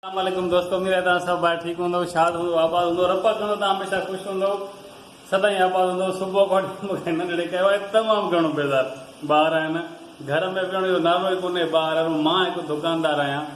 اسلام عليڪم دوستو اميد آهي توهان سڀ ٻاهر ٺيڪ هوندو شاد هوندو آباد هوندو رب ڪندو توهان هميشه خوش هوندو سدائين آباد هوندو صبح کان مونکي ننڍڙي ڪيو آهي تمام گهڻو بيزار ٻار آهن گهر ۾ ويهڻ جو نالو ئي ڪونهي ٻار هر مان هڪ دڪاندار آهيان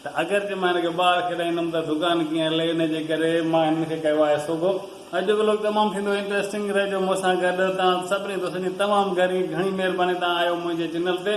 ته اگر جي مان هن کي ٻاهر کيڏائيندم ته دڪان ڪيئن هلي ان جي ڪري مان هن کي ڪيو آهي صبح اڄ جو ولوگ تمام ٿيندو انٽريسٽنگ رهجو مون سان گڏ توهان سڀني دوستن جي تمام گهڻي گهڻي مهرباني توهان آيو منهنجي چينل تي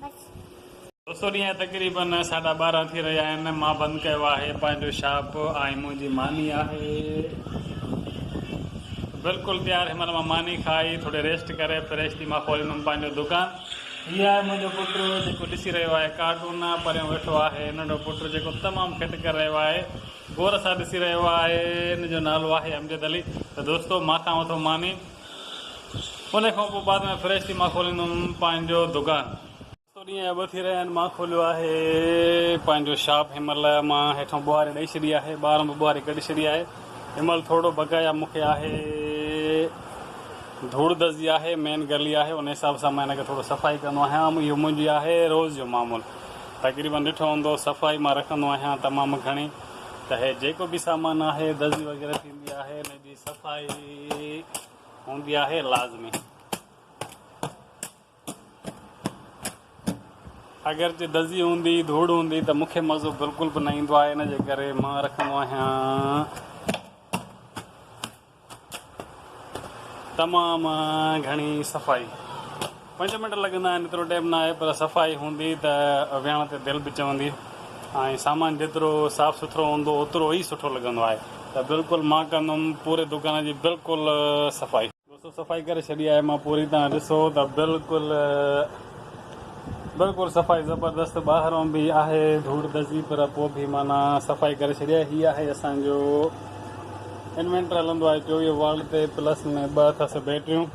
دوستو ڏينهن جا تقريبن ساڍا ٻارهن ٿي رهيا آهن مان بند ڪيو آهي پنهنجو شاپ ۽ منهنجي ماني آهي بلڪل تيار هن مهل مان ماني کائي ٿوري ريسٽ ڪري فريش ٿي مان کولندم پنهنجو دڪان هي آهي منهنجو پٽ جيڪو ڏسي رهيو آهي ڪارٽون پريون ويٺو آهي ننڍو پٽ جيڪو تمام کٽ ڪري رهيو آهي غور سان ڏسي رهيو آهي ان جو نالو آهي امجد علي ته دوستو مان کان وٺو ماني ان کان پوء بعد ۾ فريش ٿي مان کوليندم پنهنجو دڪان. ست ڏينهن يا ٻه ٿي رهيا آهن مان کوليو آهي پنهنجو شاپ هن مهل مان هيٺان ٻوهاري ڏئي ڇڏي آهي ٻاهران به ٻوهاري ڪڍي ڇڏي آهي هن مهل ٿورڙو بقايا مون کي آهي ڌوڙ دزي آهي مين گلي آهي ان حساب سان مان هن کي ٿورڙو صفائي ڪندو آهيان اهو منهنجي آهي روز جو معمول تقريبن ڏٺو هوندو صفائي مان رکندو آهيان تمام گهڻي ته هي جيڪو به سامان آهي دزي وغيره ٿيندي آهي صفائي هوندي آهي لازمي. اگرچه دزي هوندي، ڌوڙ هوندي ته مون کي مزو بلڪل به نه ايندو آهي ان جي ڪري مان رکندو آهيان تمام گهڻي صفائي. پنج منٽ لڳندا آهن ايترو ٽيم نه آهي پر صفائي هوندي ته ويهڻ تي دل به چوندي ۽ سامان جيترو صاف سٿرو هوندو اوترو ئي سٺو لڳندو آهي ته بلڪل مان ڪندم پوري دڪان جي بلڪل صفائي. دوستو صفائي ڪري ڇڏي آهي مان پوري تان ڏسو ته بلڪل بلڪل صفائي زبردست ٻاهرون به آهي ڌوڙ دزي پر پوء به معنيٰ صفائي ڪري ڇڏي آهي هي آهي اسان جو انوينٽر هلندو آهي چوويهه والٽ تي پلس ۾ ٻه اٿس بيٽريون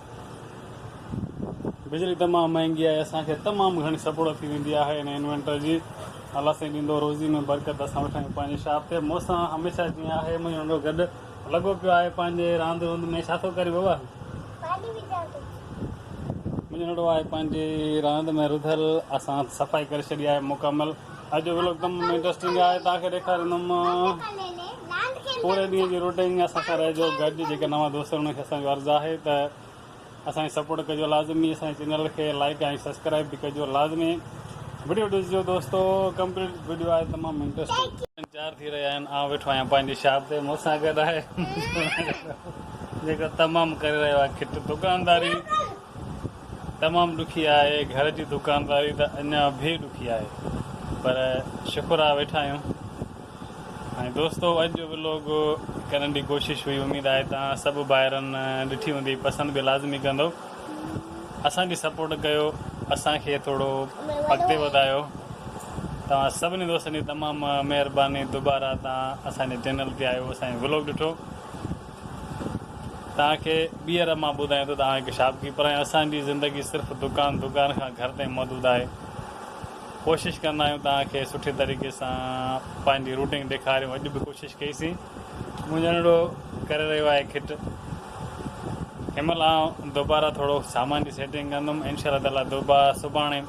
بجلي تمام مهنگي آهي اسان کي تمام گهڻي سپڙو ٿي ويندي آهي هن انوينٽر جي الله سائين ڏيندو روزي ۾ برڪت اسان ويٺا آهيون پنهنجي شاپ تي مونسان هميشه جيئن آهي منهنجو ننڍو گڏ لڳو پيو آهي پنهنجي راند روند ۾ ڇا ٿو ڪرين بابا منهنجو ننڍو آهي پنهنجي راند ۾ رڌل اسان صفائي ڪري ڇڏي آهي مڪمل اڄ جو ولوگ تمام انٽرسٽنگ آهي توهان کي ڏيکاريندم پوري ڏينهن جي روٽين اسان سان رهجو گڏ جيڪي نوان دوست آهن انهن کي اسان جو عرض آهي ته اسان کي سپورٽ ڪجو لازمي اسان جي چينل کي لائيڪ ۽ سبسڪرائيب به ڪجو لازمي وڊيو ڏسجو دوستو ڪمپليٽ وڊيو آهي تمام انٽرسٽنگ. چار ٿي رهيا آهن آئون ويٺو آهيان پنهنجي شاپ تي مون سان گڏ آهي جيڪو تمام ڪري رهيو آهي کٽ دڪانداري تمام ڏکي آهي گهر جي دڪانداري ته اڃا به ڏکي آهي پر شڪر آهي ويٺا آهيون ۽ دوستو اڄ جو ولوگ ڪرڻ جي ڪوشش هئي اميد آهي توهان سڀ ڀائرن ڏٺي هوندي پسند به لازمي ڪندؤ اسان جي سپورٽ ڪيو اسان کي ٿورو اڳتي وڌايو توهان سڀني دوستن جي تمام مهرباني دوباره توهان اسان جي چينل تي آيو اسان جي ولوگ ڏٺو توهان کي ٻيهر مان ٻڌايان ٿو توهان هڪ شاپ ڪيپر آهيو اسان جي زندگي صرف دڪان دڪان کان گهر تائين محدود آهي ڪوشش ڪندا آهيون توهان کي سٺي طريقي سان پنهنجي روٽنگ ڏيکاريون اڄ به ڪوشش ڪئي سين منهنجو ننڍڙو ڪري رهيو آهي کٽ هن مهل آئون دوباره ٿورو سامان جي سيٽنگ ڪندم انشاء الله تعاليٰ دوباره سڀاڻي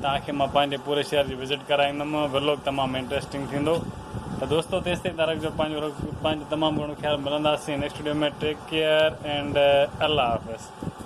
توهان کي مان پنهنجي پوري شهر جي وزٽ ڪرائيندم ولوگ تمام انٽرسٽنگ ٿيندو ته دوستو تيس تائين تارڪ جو پنهنجو پنهنجو تمام گهڻو خيال ملنداسين next video ۾ take care and الله حافظ